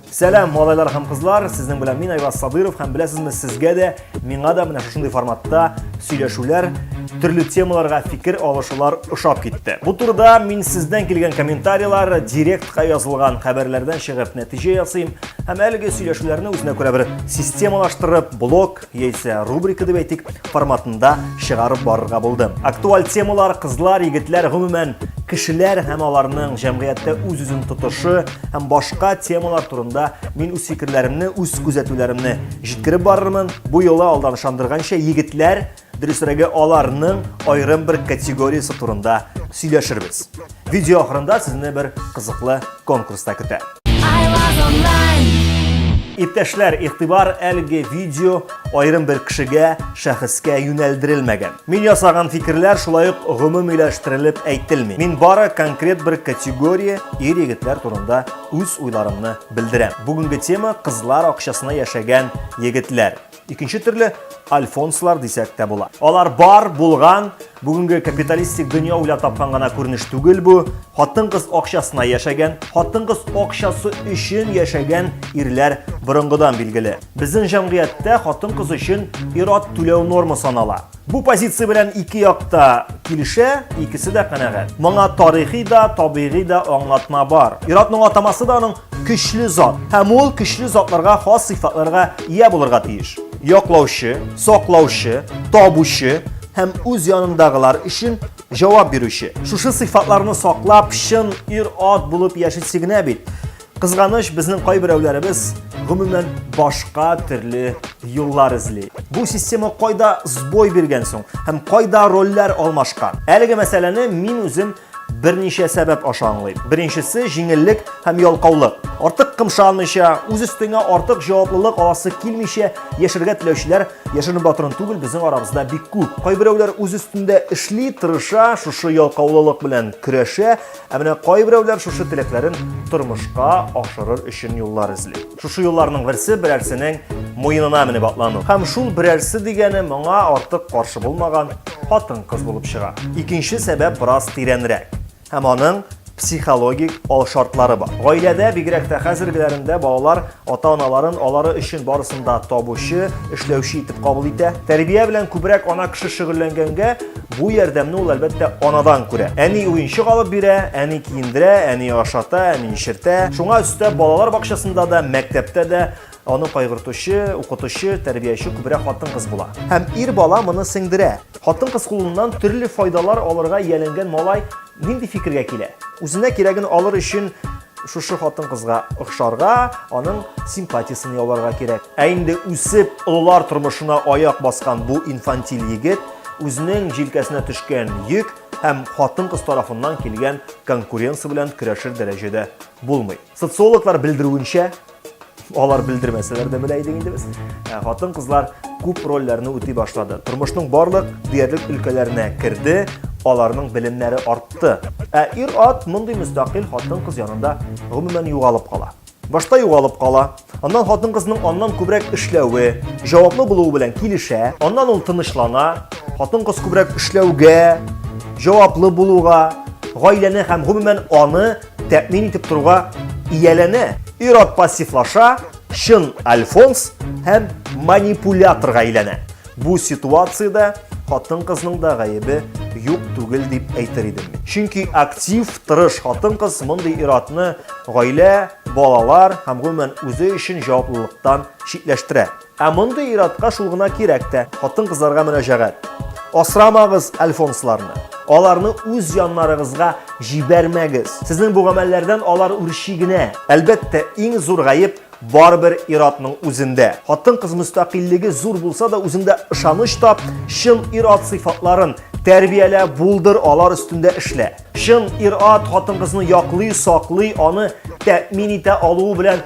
Сәлам, малайлар һәм кызлар, сезнең белән мин Айваз Садыров һәм беләсезме, сезгә дә, миңа да менә шушындый форматта сөйләшүләр, төрле темаларга фикер алышулар ошап китте. Бу турыда мин сездән килгән комментарийлар директка язылган хәбәрләрдән чыгып нәтиҗә ясыйм һәм әлеге сөйләшүләрне үзенә күрә бер системалаштырып, блог яисә рубрика дип әйтик, форматында чыгарып барырга булды. Актуаль темалар, кызлар, егетләр, гомумән, кешеләр һәм аларның җәмгыятьтә үз-үзен тотышы һәм башка темалар турында мин үз фикерләремне, үз күзәтүләремне җиткереп барырмын. Бу юлы алдан ышандырганча егетләр, дөресрәге аларның аерым бер категориясе турында сөйләшербез. Видео ахырында сезне бер кызыклы конкурста көтә. Иптәшләр, игътибар әлеге видео айрым бер кешегә, шәхескә юнәлдерелмәгән. Мин ясаган фикерләр шулай ук гомумиләштерелеп әйтелми. Мин бары конкрет бер категория ир егетләр турында үз уйларымны белдерәм. Бүгенге тема кызлар акчасына яшәгән егетләр. Икенче төрле альфонслар дисәк тә була. Алар бар, булган, бүгенге капиталистик дөнья уйлап тапкан гына күренеш түгел бу. Хатын-кыз акчасына яшәгән, хатын-кыз акчасы өчен яшәгән ирләр борынгыдан билгеле. Безнең җәмгыятьтә хатын-кыз өчен ират түләү норма санала. Бу позиция белән ике якта килешә, икесе дә канәгать. Моңа тарихи да, табигый да аңлатма бар. Иратның атамасы да аның көчле зат. Һәм ул көчле затларга хас сыйфатларга ия булырга тиеш. Яклаучы, саклаучы, табучы һәм үз янындагылар өчен җавап бирүче. Шушы сыйфатларны саклап, чын ир-ат булып яшисе генә бит. Кызганыч, безнең кайберәүләребез гомумән башка төрле юллар эзли. Бу система кайда сбой биргән соң һәм кайда рольләр алмашкан? Әлеге мәсьәләне мин үзем берничә сәбәп аша аңлыйм. Беренчесе җиңеллек һәм ялкаулык. Артык кымшанмыйча, үз өстеңә артык җаваплылык аласы килмичә яшәргә теләүчеләр яшерен батырын түгел безнең арабызда бик күп. Кайберәүләр үз өстендә эшли, тырыша, шушы ялкаулылык белән көрәшә, Ә менә кайберәүләр шушы теләкләрен тормышка ашырыр өчен юллар эзли. Шушы юлларның берсе берәрсенең муенына менеп атлану. Һәм шул берәрсе дигәне моңа артык каршы булмаган хатын-кыз булып чыга. Икенче сәбәп бераз тирәнрәк. Һәм аның психологик алшартлары бар. Гаиләдә, бигрәк тә хәзергеләрендә балалар Ата-аналарын алары өчен барысын да табучы, эшләүче итеп кабул итә. Тәрбия белән күбрәк ана кеше шөгыльләнгәнгә, бу ярдәмне ул әлбәттә анадан күрә. Әни уенчык алып бирә, әни киендерә, әни ашата, әни эчертә. Шуңа өстәп, балалар бакчасында да, мәктәптә дә аны кайгыртучы, укытучы, тәрбияче күбрәк хатын-кыз була. Һәм ир бала моны сеңдерә. Хатын-кыз кулыннан төрле файдалар алырга ияләнгән малай Нинди фикергә килә? Үзенә кирәген алыр өчен шушы хатын-кызга охшарга, аның симпатиясен яуларга кирәк. Ә инде үсеп, олылар тормышына аяк баскан бу инфантиль егет үзенең җилкәсенә төшкән йөк һәм хатын-кыз тарафыннан килгән конкуренция белән көрәшер дәрәҗәдә булмый. Социологлар белдерүенчә, Алар белдермәсәләр дә белә идек инде без. Ә, хатын-кызлар күп рольләрне үти башлады. Тормышның барлык диярлек өлкәләренә керде, аларның белемнәре артты. Ә ир-ат мондый мөстәкыйль хатын-кыз янында гомумән югалып кала. Башта югалып кала, аннан хатын-кызның аннан күбрәк эшләве, җаваплы булуы белән килешә, аннан ул тынычлана, хатын-кыз күбрәк эшләүгә, җаваплы булуга, гаиләне һәм гомумән аны тәэмин итеп торуга ияләнә. Ир-ат пассивлаша, чын альфонс һәм манипуляторга әйләнә. Бу ситуациядә хатын-кызның да гаебе юк түгел дип әйтер идем. Чөнки актив, тырыш хатын-кыз мондый ир-атны гаилә, балалар һәм гомумән үзе өчен җаваплылыктан читләштерә. Ә мондый иратка шул гына кирәк тә, хатын-кызларга мөнәҗәгать. Асрамагыз альфонсларны. Аларны үз яннарыгызга җибәрмәгез. Сезнең бу гамәлләрдән алар үрчи генә. Әлбәттә, иң зур гаеп барыбер иратның үзендә. Хатын-кыз мөстәкыйльлеге зур булса да, үзендә ышаныч тап, чын ират сыйфатларын тәрбиялә, булдыр, алар өстендә эшлә. Чын ират хатын-кызны яклый, саклый, аны тәэмин итә алуы белән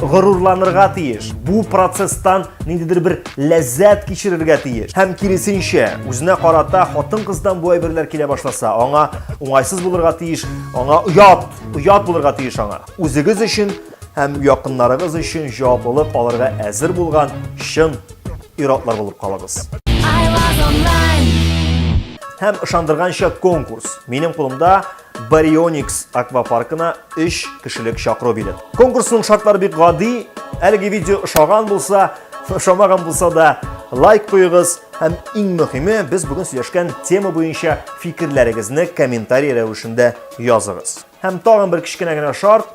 горурланырга тиеш. Бу процесстан ниндидер бер ләззәт кичерергә тиеш. Һәм киресенчә, үзенә карата хатын-кыздан бу әйберләр килә башласа, аңа уңайсыз булырга тиеш, аңа оят, оят булырга тиеш аңа. Үзегез өчен һәм якыннарыгыз өчен җаваплылык алырга әзер булган чын ир-атлар булып калыгыз. Һәм ышандырганча конкурс. Минем кулымда Барионикс аквапаркына 3 кешелек чакыру билет. Конкурсның шартлары бик гади. Әлеге видео ошаган булса, ошамаган булса да, лайк куегыз һәм иң мөһиме, без бүген сөйләшкән тема буенча фикерләрегезне комментарий рәвешендә языгыз. Һәм тагын бер кечкенә генә шарт,